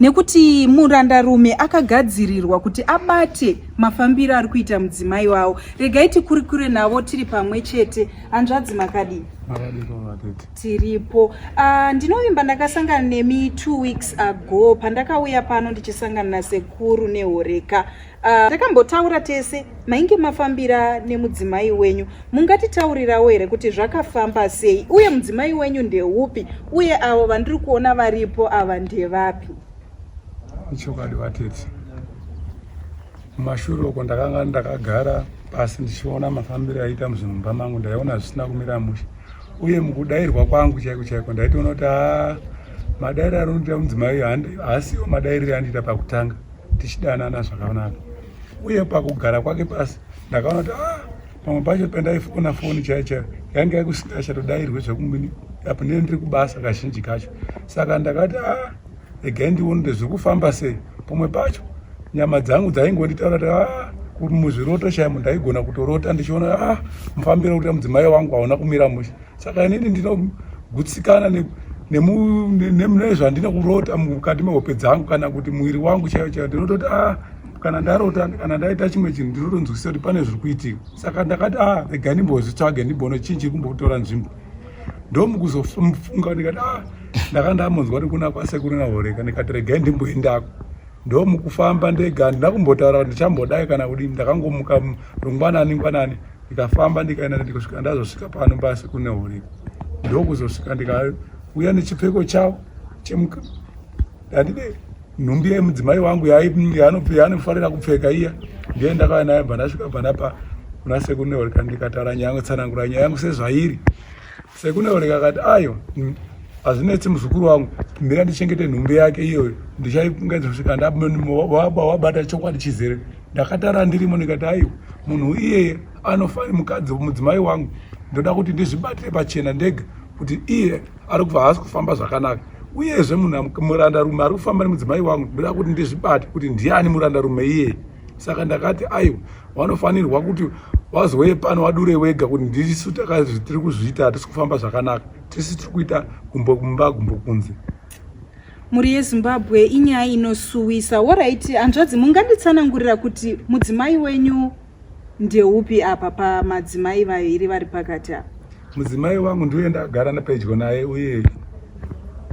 nekuti murandarume akagadzirirwa kuti abate mafambiro ari kuita mudzimai wavo regai tikurikure navo tiri pamwe chete hanzvadzi makadii tiripo ah, ndinovimba ndakasangana nemi two weeks ago pandakauya pano ndichisangana nasekuru nehoreka Ah, takambotaura uh, tese mainge mafambira nemudzimai wenyu mungatitaurirawo here kuti zvakafamba sei uye mudzimai wenyu ndeupi uye avo vandiri kuona varipo ava ndevapi ichokwadi vatete mumashure uko ndakanga ndakagara pasi ndichiona mafambiro aiita muzvinhu mumba mangu ndaiona zvisina kumira mushe uye mukudairwa kwangu chaiko chaiko ndaitoona kuti haa madairi arinoita mudzimai haasiwo madairire andiita pakutanga tichidanana zvakanaka uye pakugara kwake pasi ndakaona kuti ah, pamwe pacho pandaifona foni chaiyo chaiyo yange yakusikachatodairwe zvekumini apo ndine ndiri kubasa kazhinji kacho saka ndakati a ah, regai ndione kuti zviri kufamba sei pamwe pacho nyama dzangu dzaingonditaura kuti a ah, muzviroto chaimo ndaigona kutorota ndichiona a ah, mufambiro kuti mudzimai wangu hauna kumira mushe saka inini ndinogutsikana nezvandina kurota mukati mehope dzangu kana kuti muviri wangu chaiyo chaiyo ndinototi a ah, kana ndarota kana ndaita chimwe chinhu ndinotonzwisisa kuti pane zviri kuitika saka ndakati a ah, rega ndimbozvitsvage ndimbono chii chiri kumbotora nzvimbo ndomukuzofunga ndikati a ah, ndaka ndamonzwa kuti kuna kwasekuru nahoreka ndikati regai ndimboendako ndomukufamba ndega handina kumbotaura kuti ndichambodai kana kudii ndakangomuka rungwanani ngwanani ndikafamba ndikaenda ndikusvika ndazosvika pano pasi kune huri ndokuzosvika ndikauya nechipfeko chavo chemuka ndandide nhumbi yemudzimai wangu yaanofarira kupfeka iya ndiye ndakauya nayo bva ndasvika bva ndapa kuna sekune huri kandikatara nyaya tsanangura nyaya yangu sezvairi Sekuna Oleka akati ayo hazvinetsi muzukuru wangu mira ndichengete nhumbi yake iyoyo ndichaiungaizosikandawabata chokwadi chizere ndakatara ndirimo ndikati aiwa munhu iyeye anofani mukadzi mudzimai wangu ndoda kuti ndizvibatire pachena ndega kuti iye ari kubva haasi kufamba zvakanaka uyezve munhu murandarume ari kufamba nemudzimai wangu ndoda kuti ndizvibate kuti ndiani murandarume iyeye saka ndakati aiwa vanofanirwa kuti vazouye pano vadure wega kuti ndisu takazvi tiri kuzviita hatisi kufamba zvakanaka tisi tiri kuita gumbo kumba gumbo kunze mhuri yezimbabwe inyaya inosuwisa woraiti hanzvadzi munganditsanangurira kuti mudzimai wenyu ndeupi apa pamadzimai vairi vari pakati apa Mudzimai wangu ndiuye ndagara nepedyo naye uye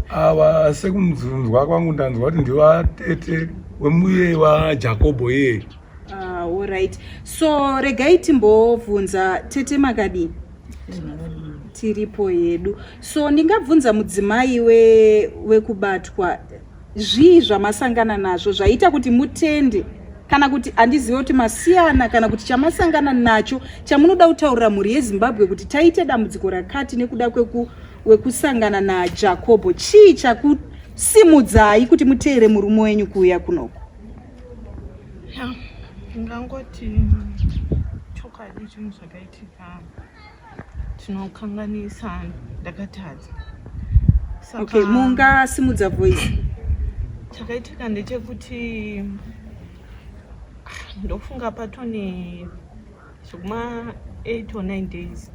ava sekumzunzwa kwangu ndanzwa kuti ndivatete wemuye wajakobho iye ah, orit so regai timbobvunza tete makadii tiripo yedu so ndingabvunza mudzimai wekubatwa we Zvii zvamasangana nazvo zvaita kuti mutende kana kuti handizive kuti masiyana kana kuti chamasangana nacho chamunoda kutaurira mhuri yezimbabwe kuti taite dambudziko rakati nekuda kwekusangana najakobho chii chakusimudzai kuti muteere murume wenyu kuuya kunoko ndingangoti chokwadi chinhu zvakaitika tinokanganisa ndakatadza okay mungasimudza voice chakaitika ndechekuti ndofunga patone zvekuma 8 or 9 days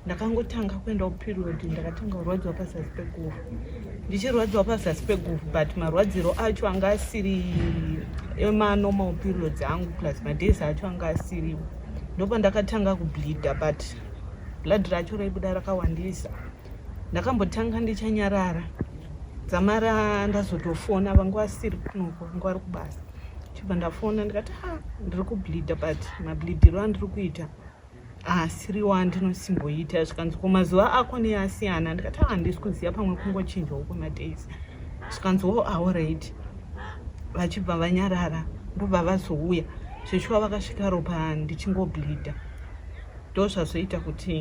ndakangotanga kuenda kuperiod ndakatanga kurwadziwa pazasi peguvhu ndichirwadziwa pazasi peguvhu but marwadziro acho anga asiri emanormal periods angu plus madays acho anga asiriwo ndopandakatanga kubleeda but blood racho raibuda rakawandisa ndakambotanga ndichanyarara dzamara ndazotofona vanga vasiri kunoko vanga vari kubasa chibva ndafona ndikati ha ndiri kubleeda but mableediro andiri kuita asiriwo andinosimboita zvikanzi ko mazuva ako neasiyana ndikati ha handisi kuziva pamwe kungochinjawo kwemadays zvikanzi wo aoraid vachibva vanyarara ndobva vazouya zveshuwa vakasvika ropa ndichingobleeda ndo zvazoita kuti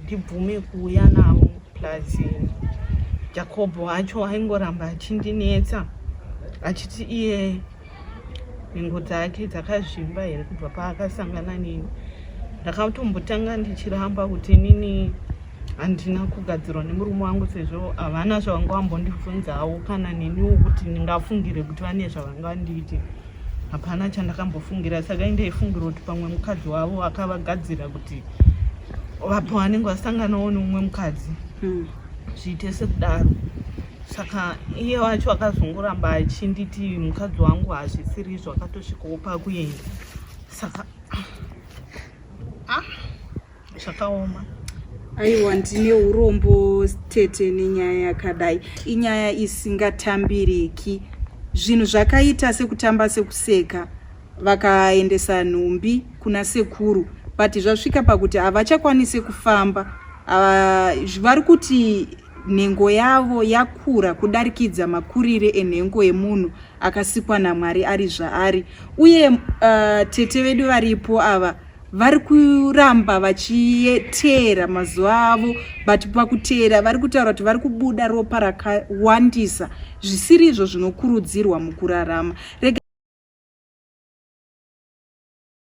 ndibvume kuuya navo plus jacob wacho aingoramba achindinetsa achiti iye nhengo dzake dzakazvimba here kubva paakasangana nini ndakatombotanga ndichiramba kuti nini handina kugadzirwa nemurume wangu sezvo havana zvavanga vambondibvunzawo kana neniwo kuti ndingafungire kuti vane zvavanga vandiiti hapana chandakambofungira saka indaifungira kuti pamwe mukadzi wavo akavagadzira kuti vapo vanenge vasanganawo neumwe mukadzi hmm. zviite sekudaro saka iye wacho akazongoramba achinditi mukadzi wangu hazvisiri izvo akatosvikawo pakuenda saka ah, zvakaoma aiwa ndine urombo tete nenyaya yakadai inyaya isingatambiriki zvinhu zvakaita sekutamba sekuseka vakaendesa nhumbi kuna sekuru but zvasvika pakuti havachakwanise kufamba ah, vari kuti Nhengo yavo yakura kudarikidza makurire enhengo yemunhu akasikwa naMwari ari zvaari. Uye uh, tete vedu varipo ava vari kuramba vachiteera mazuva avo but pakuteera vari kutaura kuti vari kubuda ropa rakawandisa zvisiri izvo zvinokurudzirwa mukurarama Rega